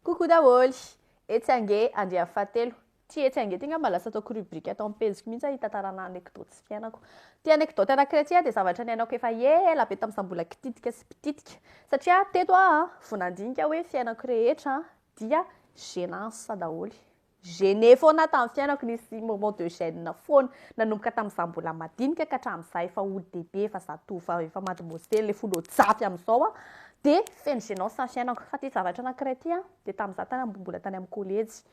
Coucou daholo! Etsy ange andiany fahatelo. Tsy etsy ange ty ngamba lasa ataoko rubrique ato am-pejiko mihitsy hitantarana anecdote sy fiainako. Ty anecdote anankiray ty dia zavatra niainako efa ela be tamin'izaho mbola kititika sy mpititika. Satria teto aho vao nandinika hoe fiainako rehetra dia gênance daholo. Gêné foana aho tamin'ny fiainako nisy moment de gêne foana nanomboka tamin'izaho mbola madinika ka hatramin'izaho efa olon-dehibe efa zatovo vao efa mademoiselle efa olon-jafy amin'izao aho dia feno gênance ny fiainako fa ity zavatra anankiray ity an dia tamin'izaho tany am mbola tany amin'ny college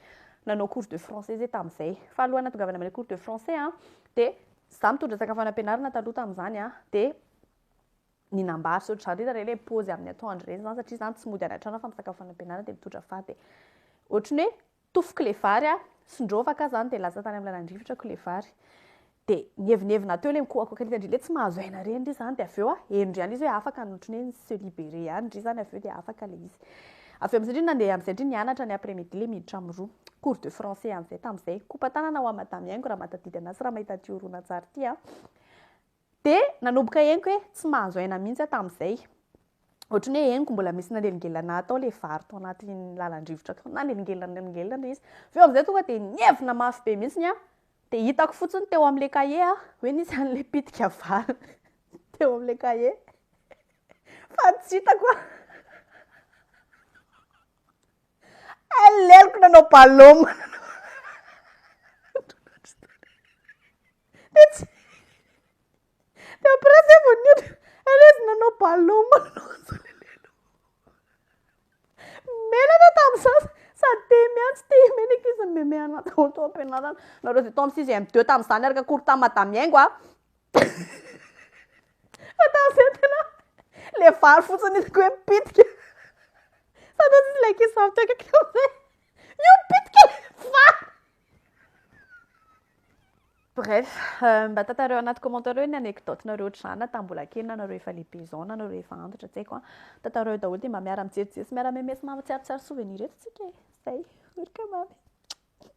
nanao cours de français zay tamin'izay fa alohan'ny natongavana amin'ilay cours de français an dia izaho mitondra sakafo any am-pianarana taloha tamin'izany an dia ny nambary sy ohatr'izany, hitanareo ilay paozy amin'ny atoandro ireny izany, satria izany tsy mody any an-trano aho fa misakafo any am-pianarana dia mitondra faty dia ohatry ny hoe tofoka ilay vary aho, sondrova ka izany dia lasa tany amin'ny lalan'ny rivotra ko ilay vary. Dia nievonevona teo ilay mikoakoaka an'ilay an-dry ilay tsy mahazo aina ireny ry izany, dia avy eo aho henony ihany izy hoe afaka no ohatry ny hoe ni-se liberer ihany ry izany avy eo dia afaka ilay izy. Avy eo amin'izay indray nandeha amin'izay indray nianatra ny après midi ilay miditra amin'ny roa, cours de français amin'izay tamin'izay. Kopa-tanana ho an'i Madame Yaingo raha mahatadidy anazy sy raha mahita an'ity horonantsary ity an! Dia nanomboka henoko hoe tsy mahazo aina mihitsy aho tamin'izay. Ohatran'ny hoe henoko mbola misy nanelingelina hatao ilay vary tao anaty lalan-drivotra tao. Nanelingelina nanelingelina ilay izy. Avy eo amin'izay tonga dia nievina mafy be mihitsy ny ahy. Dia hitako fotsiny teo amin'ilay kahie aho hoe nisy an'ilay pitika vary teo amin'ilay kahie. Fa tsy hitako aho. Aleloko nanao balôma. Dia tsy... Dia après izay vao niotra. Aleo izy nanao ballon manonja ilay lela. Menatra tamin'izany sady tia miantsy tia menaka izy mimemeana daholo tao am-pianarana. Nareo avy tao amin'ny sixième deux tamin'izany araka cours tamin'i madame Iaingo a. Fa tamin'izay tena ilay vary fotsiny hitako hoe mipitika. Sady hoy izy ilay ankizy vavy teo akaiky tamin'izay, io mipitika ilay vary. Bref, mba tantareo anaty commentaire hoe ny anecdote nareo ohatr'izany na tamin'ny mbola kely na nareo efa lehibe izao na nareo efa antitra tsy haiko an. Tantareo daholo dia mba miara-mijery sy miara-memes mahatsiaro tsara souvenir eto tsika e. Zay, ory ka mamy.